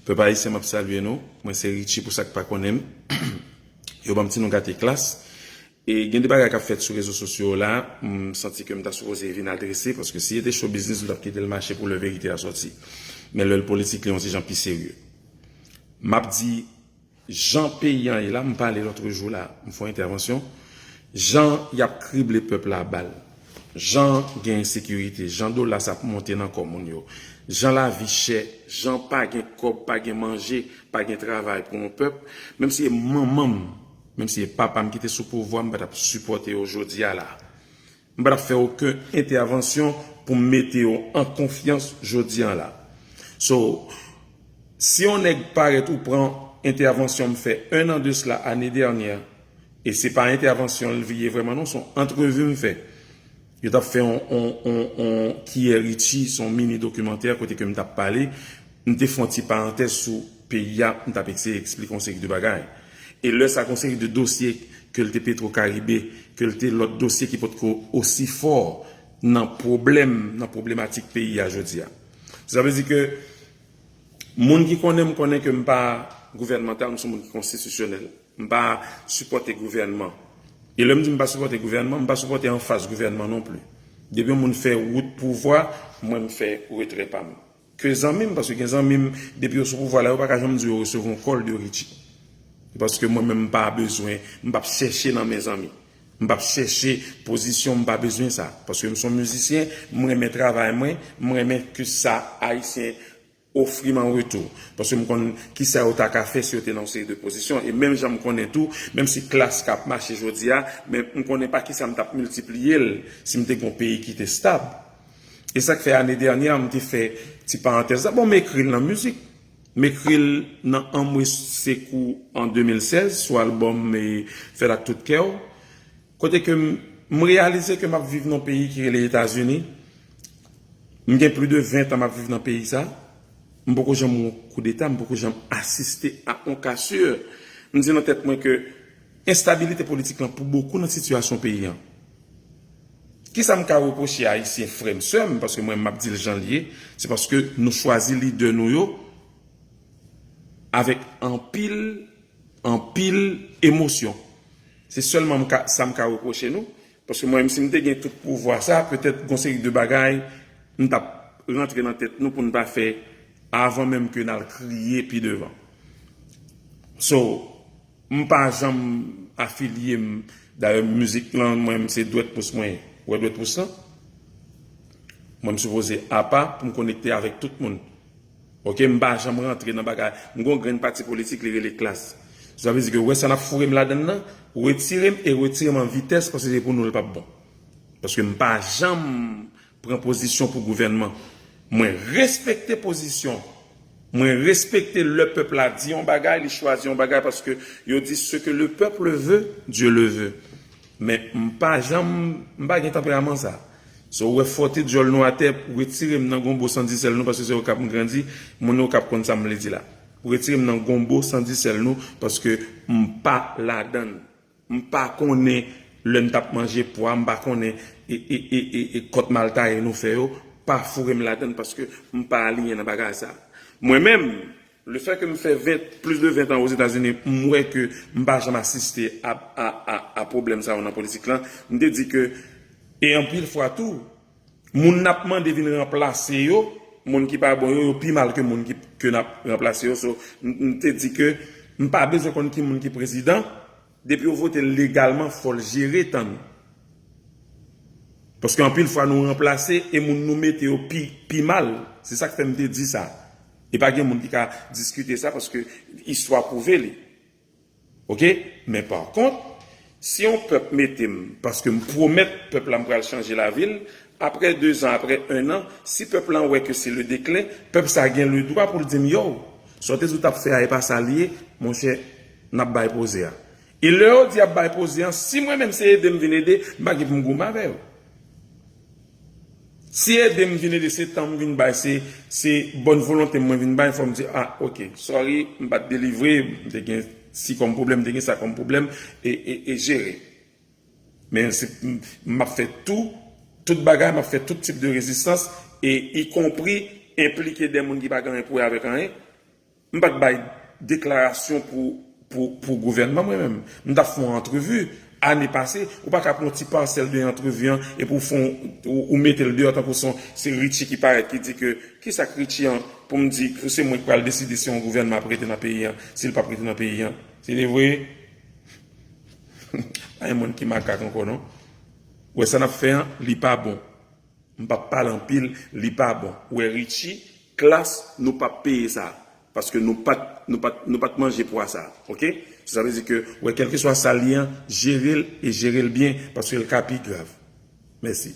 Pèp ayisyen map salye nou mwen se Richie pou sak pa konnen m yo banm ti non gate klass e gen de bagay kap fèt sou rezo sosyo la m santi ke m ta sipoze vin adrese paske si li te show biznis m tap kite l mache pou lè verite a sòti men lè l politik li yon ti jan pi serye map di Jan peyi an ye la, m pale lotre jou la, m fon entèvansyon, jan y ap krible pèp la a bal, jan gen ensekirite, jan dola sa ap monte nan kò moun yo, jan lavi chè, jan pa gen kòb, pa gen manje, pa gen travay pou yon pèp, menm si e manman m, menm si e papa m ki te sou pouvwa, m pa t ap sipòte yo jodi a la. M pa t ap fè oken entèvansyon pou m mete yo an konfyans jodi an la. So, si yon nèg parèt ou pran entèvansyon m fè 1 an de sla ane dènyè, e se pa entèvansyon l ye vrèman non, s on antrevi m fè. Yo t ap fè yon kiyè richi, s on mini dokimantè kote ke m t ap pale, m te fè yon ti parantèz sou peyi a, m t ap eseye eksplike yon seri de bagay. E lè sa gen yon seri de dosye, ke l te Petro Caribe, ke l te lòt dosye ki potko osi fò nan pwoblèm, nan pwoblematik peyi a jodi a. Sa vle di ke moun ki konnen m konnen ke m pa gouvènmantal, m se yon moun ki konstitisyonèl. M pa sipòte gouvènman. E lè m di m pa sipòte gouvènman, m pa sipòte anfas gouvènman non pli. Depi yon moun fè wout pouvwa, mwen m fè retrè pa m. Ke zanmi m paske gen zanmi m depi yo sou pouvwa la yo paka janm di yo resevwa yon kòl de Richie. Se paske mwen menm m pa bezwen, m p ap chèche nan men zanmi. M p ap chèche pozisyon, m pa bezwen sa. Paske m s on mizisyen, m renmen travay mwen, m renmen ke sa Ayisyen ofri m an retou. Paske m konn kisa yo ta ka fè si yo te nan yon seri de pozisyon. E menm jan m konnen tou, menm si klas ka ap mache jodi a, men m konnen pa kisa m t ap miltipliye l si m te gen yon peyi ki te stab. E sak fè ane dènyè a m te fè ti parantèz la bon m ekri l nan mizik. M ekri l nan Anmwe Sekou an 2016 sou albòm Fè l ak tout kè w. Kote ke m reyalize ke m ap viv nan yon peyi ki rele Etazini. M gen pli de 20 tan m ap viv nan peyi sa. M poko janm wè yon koudeta, m poko janm asiste a yon ka sè. M di nan tèt mwen ke enstabilite politik lan pou bokou nan sitiyasyon peyi an. Kisa m ka repwoche Ayisyen frè m, sè m, paske mwen m ap di l jan l ye, se paske nou chwazi lidè nou yo avèk anpil, anpil emosyon. Se sèlman m ka, sa m ka repwoche nou, paske mwen menm si m te gen tout pouvwa sa, petèt gon seri de bagay m t ap rantre nan tèt nou pou n pa fè avan menm ke n al kriye pi devan. So. M pa janm afilye m dayè mizik lan mwen menm se dwèt pous mwen wè dwèt pous lan mwen m sipoze apa pou m konekte avèk tout moun ok m pa janm rantre nan bagay m gon grenn pati politik li rele klass sou sa vle di ke wè sa nap foure m ladann lan retire m e retire m an vitès paske se pou nou l pap bon paske m pa janm pran pozisyon pou gouvènman mwen respekte pozisyon mwen respekte lè pèp la di yon bagay li chwazi yon bagay paske yo di se ke le peuple veut Dieu le veut men m pa janm m pa gen tanperaman sa so ou wè fòte dyòl nou atè pou retire m nan gonbo san di sèl nou paske se okap m grandi moun okap konn sa m vle di la pou retire m nan gonbo san di sèl nou paske m pa ladann. M pa konnen lè m tap manje pwa m pa konnen e kòt mal taye nou fè yo pa foure m ladann paske m pa aliyen nan bagay sa. Mwen menm, le fè ke m fè 20, plis de 20 tan Ozetazini, m wè ke m pa janm asiste a pwoblèm sa yo nan politik lan. M te di ke e anpil fwa tou. Moun nap mande vin ranplase yo, moun ki pa bon yo, yo pi mal ke moun ke nap ranplase yo so m te di ke m pa bezwen konn ki moun ki prezidan depi yo vote l legalman fò l jere tan nou paske anpil fwa nou ranplase e moun nou mete yo pi mal se sak fè m te di sa e pa gen moun ki ka diskite sa paske istwa pwouve li. Ok men par kont si yon pèp metem paske m pwomèt pèp la m pral chanje lavi l aprè 2 zan aprè 1 an si pèp lan wè ke se le deklen pèp sa gen le dwa poul dim yow sa w te di w tap fè a e pa sal ye monchè nap bay poze a e lè yo di yap bay poze an si mwen menm se edem vin ede m pa gen poum goumen avè yo. Si edem vin ede se tanm vin bay se se bòn volontem mwen vin bay fòm di ah ok sorry m pat delivre m te gen si kòm pwoblèm m te gen sa kòm pwoblèm e jere men map fè tou tout bagay map fè tout tip de rezistans e ikonpri enplike de moun ki pa gen anyen pou wè avèk anyen. M pat bay deklarasyon pou gouvènman mwen menm. M tap fè yon antrevi ane pase. Ou pa ka pran yon ti pasèl de antrevi an epi ou fè yon, ou mete l deyò tankou son se Richie ki parèt ki di ke kisa k Richie an pou m di pou se mwen ki pral deside si yon gouvènman ap rete nan peyi an, si l pap rete nan peyi an. Se de vre? Pa gen moun ki makak ankò non. Ou wè sa n ap fè an, li pa bon. M pap pale anpil, li pa bon. Ou wè Richie? Klass nou pap peye sa paske nou pat nou pat nou pat manje pwa sa ok so sa vle di ke wè kelkeswa sal ye an jerel e jerel byen paskel ka pi grav mèsi.